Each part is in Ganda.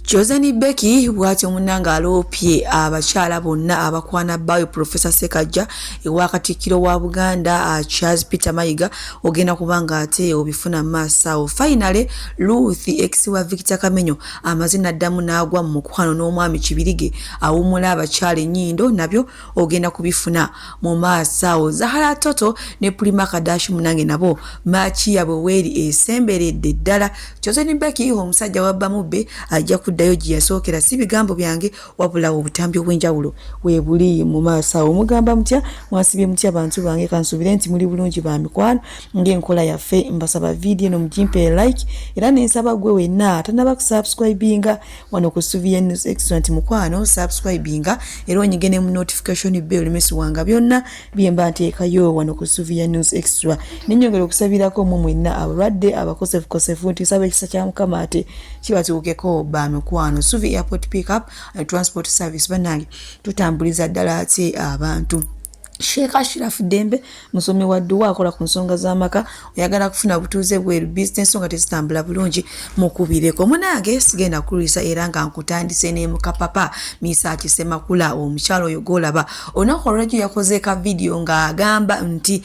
Joseni Becky bwatyo munanga aloopye abakyala bonna abakwana bbaawe Profesa Sekajja ewa Katikkiro wa Buganda ah, Charles Peter Mayiga ogenda kuba nga ate obifuna maaso awo. Finally Ruth ex wa Victor Kamenyo amaze n'addamu n'agwa mu mukwano n'omwami Kibirige awummula abakyala ennyindo nabyo ogenda kubifuna mu maaso awo zahara toto ne pulima kadashi munange nabo maaki yabwe weeri esemberedde ddala kyozeni beki omusajja wabbamubbe ajja kuddayo gye yasookera si bigambo byange wabulawo obutambi obw'enjawulo webuli mu maaso awo mugamba mutya mwasibye mutya bantu bange kansuubire nti muli bulungi ba mikwano ng'enkola yaffe mbasaba vidiyo eno mugimpe like era nensaba gwe wenna atanaba kusubscribinga wano ku Suvia News Extra nti mukwano subscribinga era onyige ne mu notification bell olemesibwanga byonna bye mba nteekayo wano ku Suvia News Extra nenyongera okusabirako mu mwenna abalwadde abakosefukosefu nti nsaba ekisa kya mukama ate kibatuukeko ba mikwano Suvia Airport Pickup and Transport Service banange tutambuliza ddala ate abantu Sheikh Ashraf Dembe musomi wa dduwa akola ku nsonga z'amaka oyagala kufuna butuuze bweru bizinesi nga tezitambula bulungi mukubireko munange sigenda kulwisa era nga nkutandise ne mukapapa misa kisemakula omukyalo oyo golaba olunaku olwejjo yakoze ka vidiyo ng'agamba nti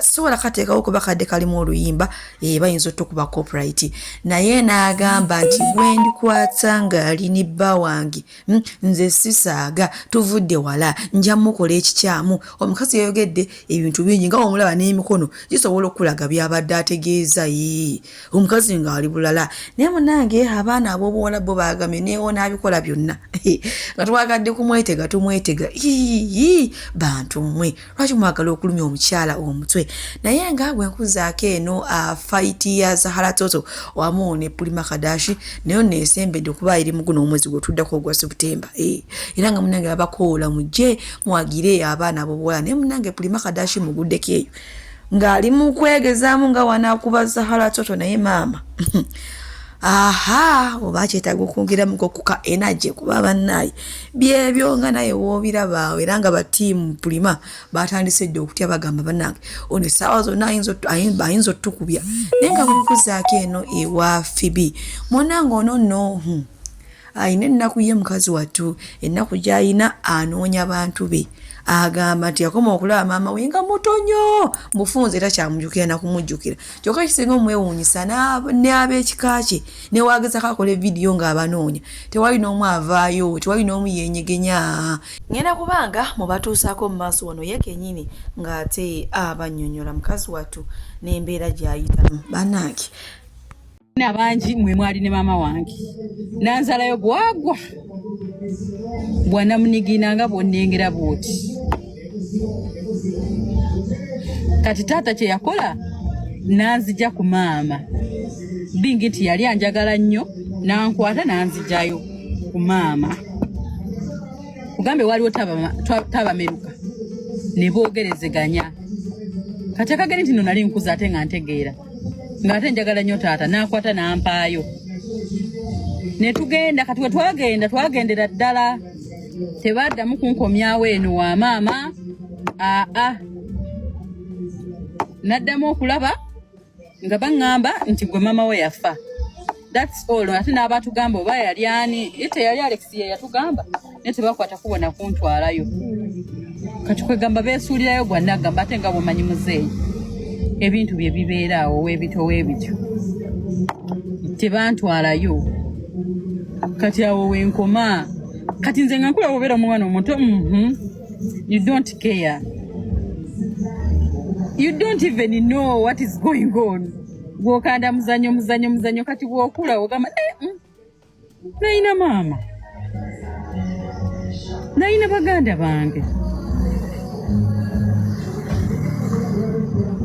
sobola kateekawo kuba kadde kalimu oluyimba e, bayinza otukuba copyright naye n'agamba nti gwendikwata ng'ali ne bba wange Hmm, nze sisaaga tuvudde wala nja mukola ekikyamu omukazi yayogedde ebintu bingi nga omulaba n'emikono gisobola okukulaga byabadde ategeeza yi omukazi ng'ali bulala naye munange abaana ab'obuwala bo baagamye neewona abikola byonna nga twagadde kumwetega tumwetega ii bantu mmwe lwaki mwagala okulumya omukyala omutwe naye nga bwenkuzaako eno uh, faiti ya zahara toto wamu ne pulima kadashi nayo nesembedde okuba eri muguno omwezi gwetuddako ogwa sebutemba eh, era nga munange babakoola mujje mwagire abaana bobuwala naye munange pulima kadashi muguddeko eyo ng'ali mu kwegezaamu nga wanaakuba zahara toto naye maama aha oba kyetaaga okwongeramuko kuka enagye kuba bannaye byebyo nga naye wobirabaawo era nga batiimu pulima batandise dde okutya bagamba banange ono essaawa zonna ayinza otukubya naye nga bwekuzaako eno ewa fibi mwanange ono no hmm, ayina ennaku ye mukazi wattu ennaku gyayina anoonya bantu be agamba nti yakoma okulaba maama we nga muto nyo mufunze era kyamujukira nakumujjukira kyokka ekisinga omwewuunyisa ne ab'ekika kye newaagezako akola evidiyo ng'abanoonya tewali n'omu avaayo tewali n'omu yeenyegenya ngenda kubanga mubatuusaako mu maaso wano ye kenyini ng'ate abannyonnyola mukazi wattu n'embeera gy'ayitamu banaaki na bangi mwe mwali ne maama wange nanzalayo gwagwa bwanamunigina nga bwonnengera bwoti kati taata kye yakola nanzija ku maama bingi nti yali anjagala nnyo nankwata nanzijayo ku maama kugambe waliwo tabameruka ne boogerezeganya kati akageri nti no nali nkuza ate nga ntegeera ng'ate njagala nnyo taata n'akwata n'ampaayo ne tugenda kati we twagenda twagendera ddala tebaddamu kunkomyawo eno wa maama aa naddamu okulaba nga baŋŋamba nti gwe maama we yafa That's all. Ate n'abatugamba oba yali ani ite yali Alex ye yatugamba naye tebakwata kubona kuntwalayo kati kwegamba beesuulirayo gwa nagamba ate nga bwomanyi muzeeyi ebintu bye bibeera awo webito webityo tebantwalayo kati awo wenkoma kati nze nga nkula wobeera omwana omuto mhm. you don't care you don't even know what is going on gwokanda muzanyo muzanyo muzanyo kati bwokula ogamba eh, mm, nayina maama nayina baganda bange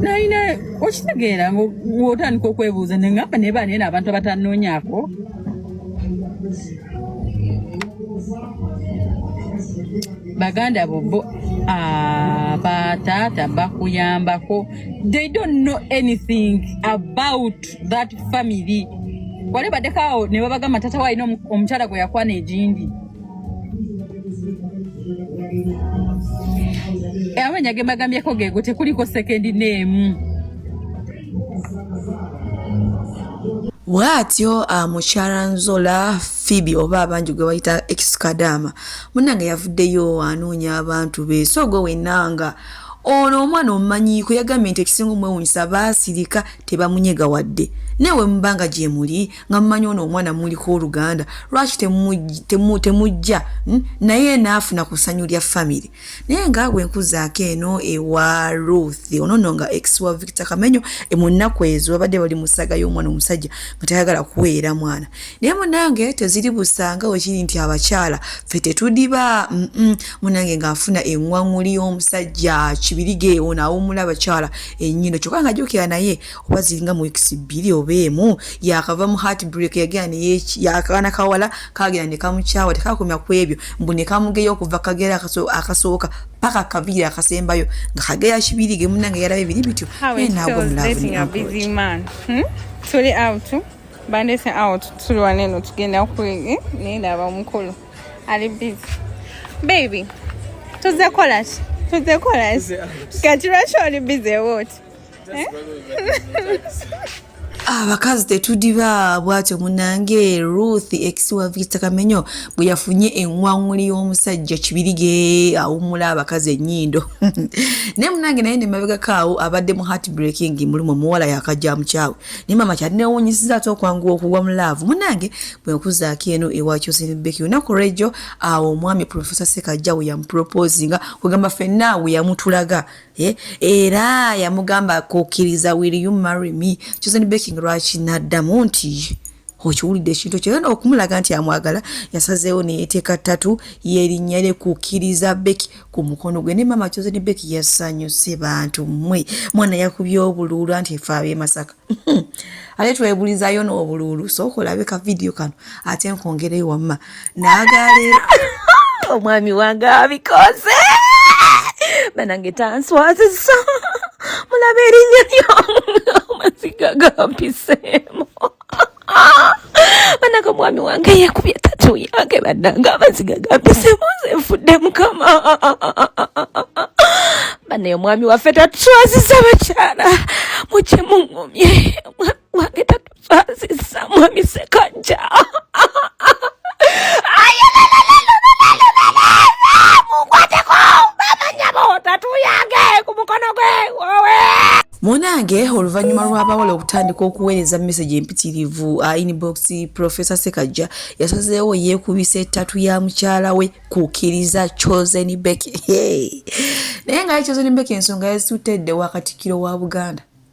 nayina okitegeera ng'otandika okwebuuza nengamba naye baneena abantu abatanoonyako baganda bo bo ah, bataata bakuyambako they don't know anything about that family wale badeko awo ne babagamba tata walina omukyala gwe yakwana egindi eh, amanya ge mbagambyeko geego tekuliko sekendi neemu bwatyo uh, ah, mukyala nzola fibi oba abangi gwe bayita ekisukadaama munange yavuddeyo anoonya abantu be so gwe wenanga Ono omwana omumanyiiko yagambye nti ekisinga omwewunyisa baasirika tebamunyega wadde naye wemubanga gyemuli nga mumanyi ono omwana muliko oluganda lwaki temujja hmm? naye naafuna ku ssanyu lya famiry naye nga bwe nkuzaako eno ewa ruth ono no nga ex wa victor kamenyo emunnaku ezo babadde bali musaga y'omwana omusajja nga tayagala kuweera mwana naye munange teziri busanga wekiri nti abakyala fe tetudiba munange ngaafuna eŋwaŋuli y'omusajja kibirige ono awumula abakyala enyindo kyokka nga jukira naye oba ziringa mu wikisi bbiri oba emu yakava mu heart break yagera neyakaana kawala kagera ne kamukyawa tekakomya ku ebyo mbu ne kamugeya okuva kagera akasooka paka akaviiri akasembayo nga kageya kibirige munange yalaba ebiri bityo naye naago mulavu ne bandese awo tuli waneno tugenda kwege naye ndaba omukulu ali busy baby tuzze kola ki tuzze kola ki kati lwaki oli busy wot eh? abakazi ah, tetudiba bwatyo munange ruth ex wa victor kamenyo bwe yafunye enwaŋuli y'omusajja kibirige awumula abakazi enyindo naye munange naye nemabegako awo abadde mu heart breaking mulimu omuwala yakajja mukyawe naye mama kyali newunyisiza ate okwanguwa okugwa mu laavu munange bwekuzaako eno ewakyusinbeki olunaku lwejjo awo omwami profesa sekajja we yamuproposinga kwegamba fenna we yamutulaga eh, era yamugamba kukkiriza will you marry me kyusinbeki lwaki naddamu nti okiwulidde ekintu ekyo yona okumulaga nti amwagala yasazeewo neyeteeka ttatu yerinnya lye kukkiriza beki ku mukono gwe ne maama kyoze ne beki yasanyuse bantu mmwe mwana yakubye obuluulu anti efe ab'e masaka ate twebulizayo n'obuluulu sooka olabe ka vidiyo kano ate nkwongereyo wamma nagalira omwami wange abikoze banange tanswaziza mulaba erinnya lyamaziga gampiseemu banange omwami wange yekubye tatu yange banange amaziga gampiseemu nze nfudde mukama banaye omwami waffe tatuswaziza bakyala mukye muŋumye Mwami tatu sasa mwami sekanja. munange oluvannyuma lw'abawala okutandika okuweereza mesegi empitirivu uh, inbox professor sekajja yasazeewo yeekubisa ettatu ya mukyala we kukkiriza chosen beki naye ngaye chosen beki ensonga yazituttedde wakatikkiro wa buganda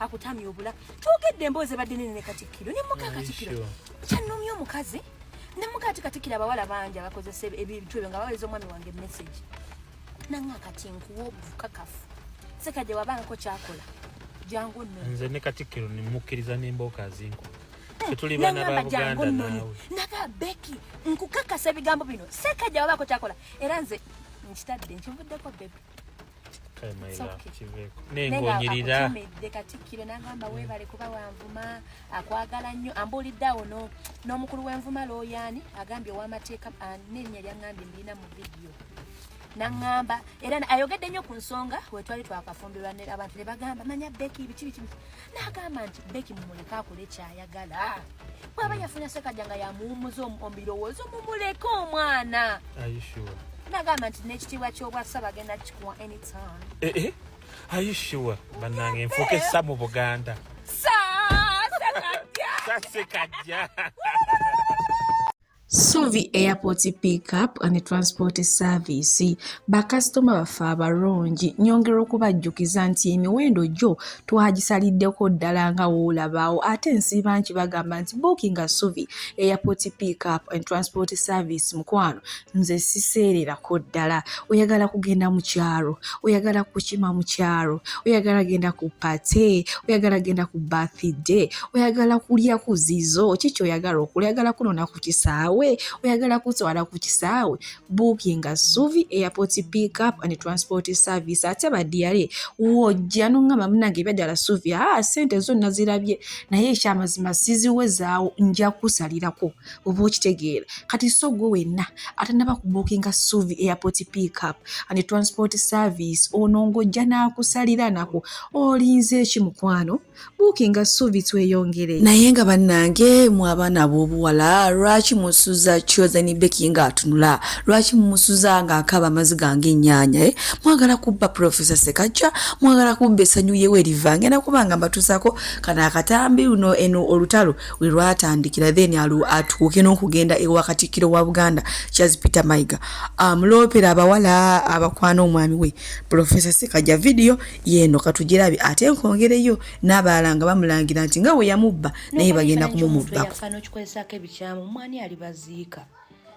akutamya obula twogedde emboozi ebadde nene ne katikkiro ne muka katikkiro kyanumya omukazi ne muka ati katikkiro abawala bangi abakozesa ebintu ebyo nga baweza omwami wange message nanga kati nkuwa obukakafu sekajja wabangako kyakola jangu nno nze ne katikkiro nemukkiriza n'embooka zinku naga beki nkukakasa ebigambo bino sekajja wabaako kyakola era nze nkitadde nkivuddeko bebi nengonyiriraakutumidde katikkiro nagamba webale kuba wanvuma akwagala nnyo ambuulidde awo n'omukulu wenvuma looyaani agambye owamateeka nenya lyangambye mbirina mu vidiyo nangamba era ayogedde nnyo ku nsonga wetwali twakafumbirwa abantu ne bagamba manya beki biki biki n'agamba nti beki mumuleke akole kyayagala bwaba yafuna sekaja nga yamuwumuza omubirowoozo mumuleke omwana nagamba nti n'ekitiibwa ky'obwasa bagenda kikuwa anytime eh, eh. ayishuwa banange nfuuka essa mu buganda sasekajja Suvi Airport Pickup and Transport Service bakasitoma baffe abalungi nyongera okubajjukiza nti emiwendo gyo twagisaliddeko ddala nga woolabaawo ate nsiiba nti bagamba nti bookinga Suvi Airport Pickup and Transport Service mukwano nze siseererako ddala oyagala kugenda mu kyalo oyagala kukima mu kyalo oyagala genda ku pate oyagala genda ku bathide oyagala kulya ku zizo kiki oyagala okula oyagala kunona ku kisaawe oyagala kutwala ku kisaawe bookinga suvi airport pick up and transport service ate badiyale wojja nongamba munange ebyadala suvi aa ah, sente zonna zirabye naye ekyamazima siziwezaawo nja kusalirako oba okitegeera kati so gwe wenna atanaba kubuukinga suvi airport pickup and transport service ono ng'ojja n'akusalira nako olinze eki mukwano buukinga suvi tweyongere naye nga bannange mu abaana ab'obuwala lwaki musuza chosen beki nga atunula lwaki mumusuza nga akaaba amaziga ng'ennyanya eh? mwagala kubba profesa sekajja mwagala kubba essanyu yewe eriva ngenda kuba nga mbatuusako kana akatambi luno eno olutalo we lwatandikira then atuuke n'okugenda ewa katikkiro wa buganda charles peter maiga amuloopera um, abawala abakwana omwami we profesa sekaja vidiyo yeeno katugirabi ate nkongereyo n'abalala nga bamulangira nti nga we yamubba naye bagenda kumumubbako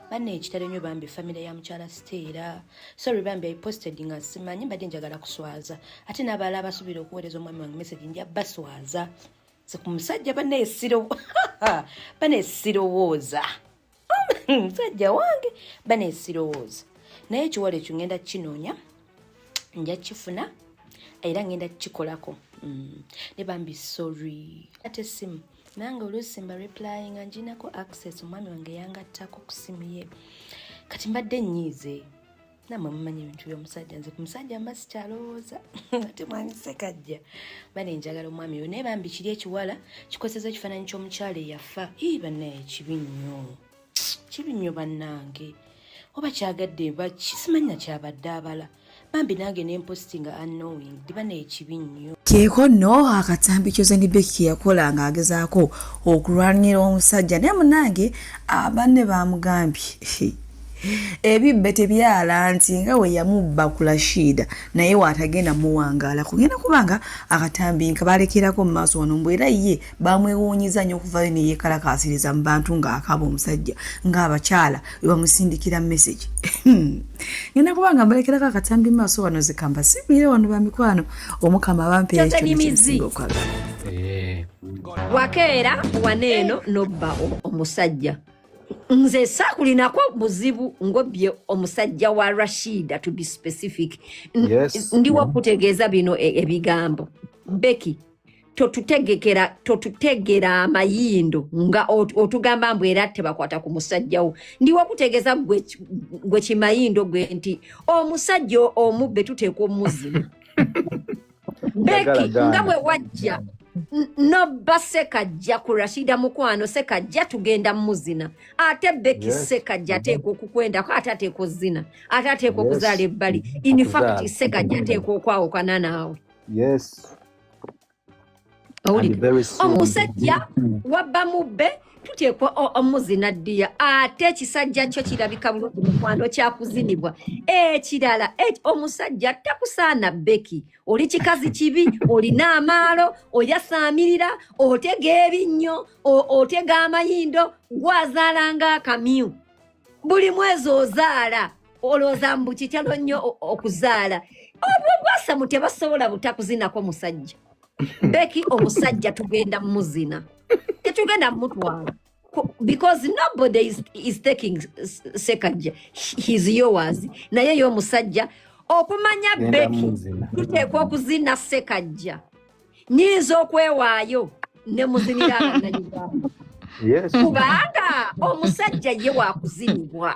banna ekitalo nyo bambi famire ya mukyala siteera sorry bambi iposted nga simanyi mbadde njagala kuswaza ate n'abalala abasuubira okuweereza omwami wange message nja baswaza nze ku musajja banesirowooza musajja wange banesirowooza naye ekiwala ekyo ngenda kinoonya nja kifuna era ngenda kikolako mm. ne bambi sorry ate simu nange oluusi mba replying nga nginako access omwami wange yangattako ku simu ye kati mbadde nyiize namwe mumanyi ebintu byomusajja nze ku musajja mba sikyalowooza ate mwanyi sekajja bane njagala omwami oyo naye bambi kiri ekiwala kikozesa ekifaananyi ky'omukyala eyafa ii banaye kibi nnyo kibi nnyo bannange oba kyagadde bakisimannya kyabadde abala bambi nange nemposti nga unknowing diba naye kibi nnyo keeko nno akatambi kyozenibeki keyakola ng'agezaako okulwanira omusajja naye munange abanne bamugambye ebibbe tebyala nti nga we yamubba ku lashiida naye waatagenda muwangaala kugenda kubanga akatambi nka balekerako mu maaso wano mbu era ye bamwewuunyiza nnyo okuvayo ne yeekalakaasiriza mu bantu ng'akaaba omusajja ng'abakyala we bamusindikira mesegi ngenda kubanga mbalekerako akatambi mu maaso wano zikamba sibuire wano ba mikwano omukama abampeera ekyo nekisinga okwagala eh. wakeera waneeno nobba omusajja nze saakulinako buzibu ngobye omusajja wa rashida to be specific yes. ndi wakutegeeza bino e, ebigambo beki totutegekera totutegera amayindo nga otugamba mbu era tebakwata ku musajjawo ndi wakutegeeza gwe kimayindo gwe nti omusajja omubbe tuteekwa omuzima beki nga bwe wajja nobba sekajja ku rashida mukwano sekajja tugenda muzina ate beki yes. sekajja ateekwa okukwendako ate ateekwa ozina ate ateekwa okuzaala yes. ebbali infact sekajja ateekwa okwawukana naawe yes. owulidde omusajja wabba mubbe tuteekwa omuzina ddiya ate ekisajja kyo kirabika bulungi mukwano kyakuzinibwa ekirala e, omusajja takusaana beki oli kikazi kibi olina amaalo oyasaamirira otega ebinnyo otega amayindo gwazaalanga akamyu buli mwezi ozaala olowooza mbu kikyalo nnyo okuzaala obwo bwasamu tebasobola butakuzinako musajja beki omusajja tugenda muzina tetugenda mutwala because nobody is, is taking sekajja his yours naye yo omusajja okumanya beki tuteekwa okuzina sekajja nyinza okwewaayo ne muzinira abanayuganda kubanga omusajja ye wakuzinibwa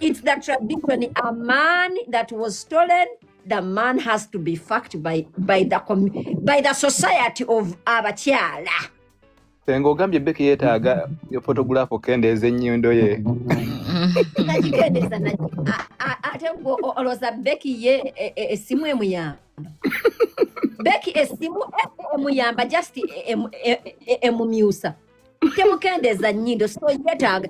it's the tradition. A man that was stolen, the man has to be fucked by, by, the, by the society of abakyala. Senga ogambye Becky yetaaga yo photograph okendeeza ennyindo ye. Nakikendeeza naki. Ate gwo olowooza Becky ye essimu e, e, emuyamba. Becky essimu e, emuyamba just emumyusa. temukendeza nyindo so yetaaga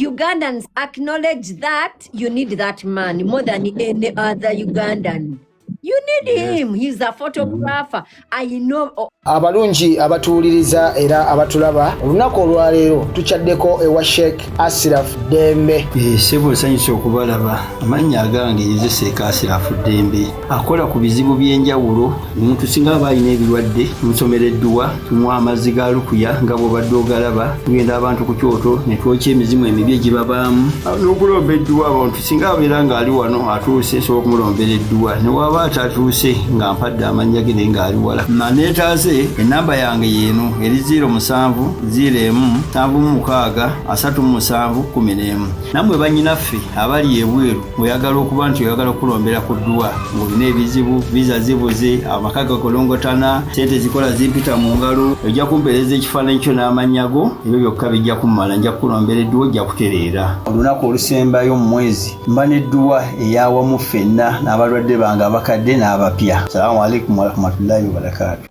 ugandans acknowledge that you need that man more than any other ugandan you need yes. him he's a photographer i know oh. abalungi abatuwuliriza era abatulaba olunaku olwaleero tukyaddeko ewa sheikh Asirafu Ddembe. Eh, ssebo nsanyusa okubalaba amannya agange nze seeka Asirafu Ddembe akola ku bizibu by'enjawulo omuntu singa aba alina ebirwadde nsomera edduwa tunywa amazzi ga lukuya nga bw'obadde ogalaba tugenda abantu ku kyoto ne twokya emizimu emibi egibabaamu n'okulomba edduwa abantu singa abeera ng'ali wano atuuse nsobola okumulombera edduwa ne waaba atatuuse nga mpadde amannya ge naye ng'ali wala maneetaaze ennamba yange yeeno eri 0 musanvu 0 emu nsanvu mu mukaaga asatu mu musanvu kumi n'emu nammwe bannyinaffe abali ebweru oyagala okuba nti oyagala okukulombera ku dduwa ng'olina ebizibu viza zibuze amaka gakolongotana sente zikola zimpita mu ngalo ojja kumpeereza ekifaananyi kyo n'amannya go ebyo byokka bijja kummala nja kukulombera edduwa ojja kutereera olunaku olusembayo mu mwezi mba n'edduwa eyawamu ffenna n'abalwadde bange abakadde n'abapya salamu alaikum warahmatullahi wabarakaatu